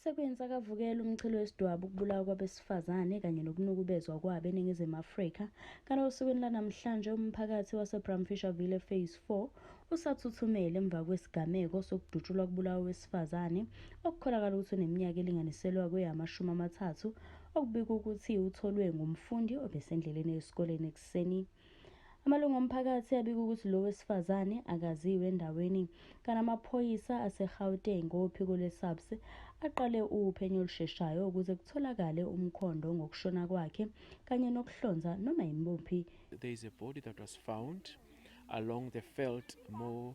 Sekwenze akavukela umchilo wesidwabu ukubulawa kwabesifazane kanye nokunukubezwa kwabo eNingizimu Afrika. Kanti osukwini lanamhlanje umphakathi waseBramfisherville Phase 4 usathuthumele emva kwesigameko sokudutshulwa kubulawa owesifazane okukholakala ukuthi uneminyaka elinganiselwa kweyaamashumi amathathu okubikwa ukuthi utholwe ngumfundi obesendleleni esikoleni ekuseni Amalungu omphakathi abika ukuthi lo wesifazane akaziwe endaweni kanti amaphoyisa aseGauteng ngophiko lwe-SAPS aqale uphenyo olusheshayo ukuze kutholakale umkhondo ngokushona kwakhe kanye nokuhlonza noma yimuphi There is a body that was found along the Veld Moor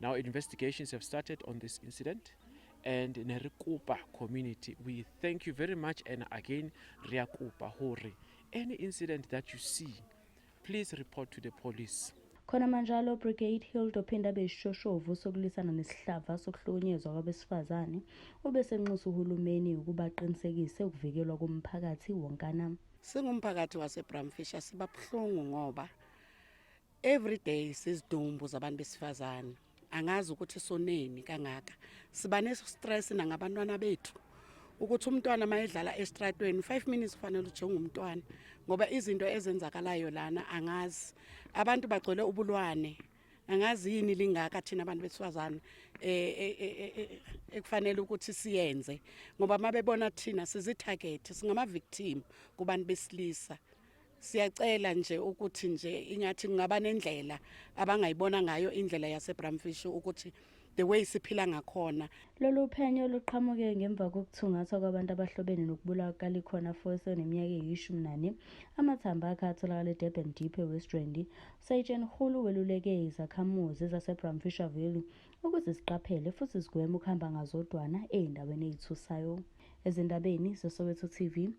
Now investigations have started on this incident and Nerikupa community we thank you very much and again Riakupa Hori any incident that you see please report to the police khona manjalo brigade hilda ophinde abe isishoshovu sokulwisana nesihlava sokuhlukunyezwa kwabesifazane ubesenxusa uhulumeni ukuba aqinisekise ukuvikelwa komphakathi wonkana singumphakathi wasebramfisher sibabuhlungu ngoba Everyday sizidumbu zabantu besifazane angazi ukuthi soneni kangaka siba nestress nangabantwana bethu ukuthi umntwana mayedlala estratweni 5 minutes ufanele ujonge umntwana ngoba izinto ezenzakalayo lana angazi abantu bagcwele ubulwane angazi yini lingaka thina abantu besifazane eh, eh, eh, ekufanele ukuthi siyenze ngoba mabebona thina sizitharget singama victim kubantu besilisa siyacela nje ukuthi nje ingathi kungaba nendlela abangayibona ngayo indlela yasebramfish ukuthi the way siphila ngakhona lolu phenyo luqhamuke ngemva kokuthungathwa kwabantu abahlobene nokubulawa kukalikhona foyisa oneminyaka eyishumi nane amathambo akhe atholakala edurban deep ewest rand usayitsheni hulu weluleke izakhamuzi zasebramfisher valley ukuthi ziqaphele futhi zigweme ukuhamba ngazodwana ezindaweni ezithusayo ezindabeni zesoweto tv